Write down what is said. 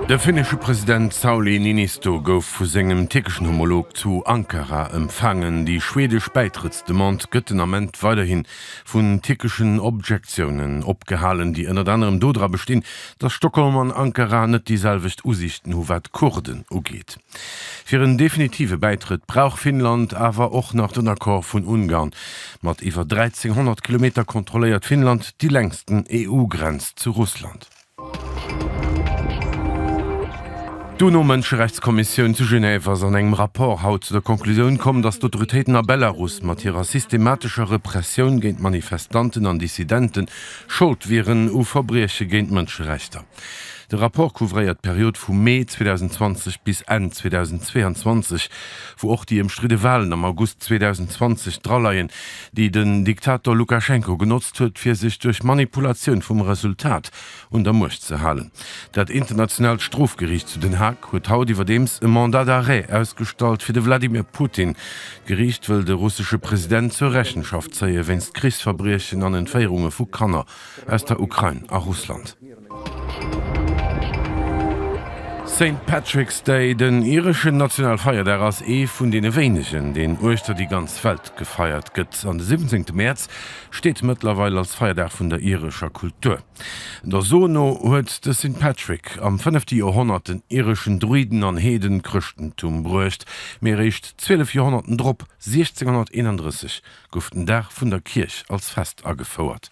De finnesche President Sauli Niinisto gouf vu sengem tierkeschen Homolog zu Ankara empfaangen. Déi schwedesch Bäitrëttsdemande gëtt den Ament weiderhi vu tierkeschen Objektiounen opgehalen, déi ënnert anerem dodra bestinn, datt Stockholm an Ankara net déi selwecht Usiichten hu wat d'Kurden ugeet. Fir en definitive Bäitrëtt brauch Finnland awer och nach den Accord vun Ungarn. Mat iwwer 1.300 Kilometer kontrolléiert Finnland déi längsten EU-Grenz zu Russland. D'UNO-Mënscherechtskommissioun zu Genève ass an engem Rapport haut zu der Conclusioun komm, datt d'Autoritéiten a Belarus mat hirer systematescher Repressioun géint Manifestanten an Dissidente Schold wieren u Verbrieche géint d'Mënscherechter. De Rapport couvréiert d'Period vu Mee 2020 bis Enn 2022, wou och déi ëmstridde Walen am August 2020 draleien, déi den Diktator Lukaschenko genotzt huet, fir sech duerch Manipulatioun vum Resultat un der Muecht ze halen. Dat Internationaalt Strofgeriicht zu Den Haag huet haut iwwerdeems e Mandat d'arrêt ausgestallt fir de Wladimir Putin. D'Geriicht wëll de russesche President zur Rechenschaft zéie wéinst Krichsverbriechen an Entféierunge vu Kanner aus der Ukrain a Russland. Saint Patrick's Day, den ireschen Nationalfeierdag, ass ee vun deene wéinegen, deen uechter déi ganz Welt gefeiert gëtt. An de siwwenzéngte Mäerz steet mëttlerweil als Feierdag vun der irescher Kultur. Der So no huet de Saint Patrick am fënnefte Joerhonnert den ireschen Druiden an Heeden d'Chrëschtentum bruecht, mee eréischt zwielef Joerhonnerten drop, 1631, gouf den Dag vun der Kierch als Fest agefouert.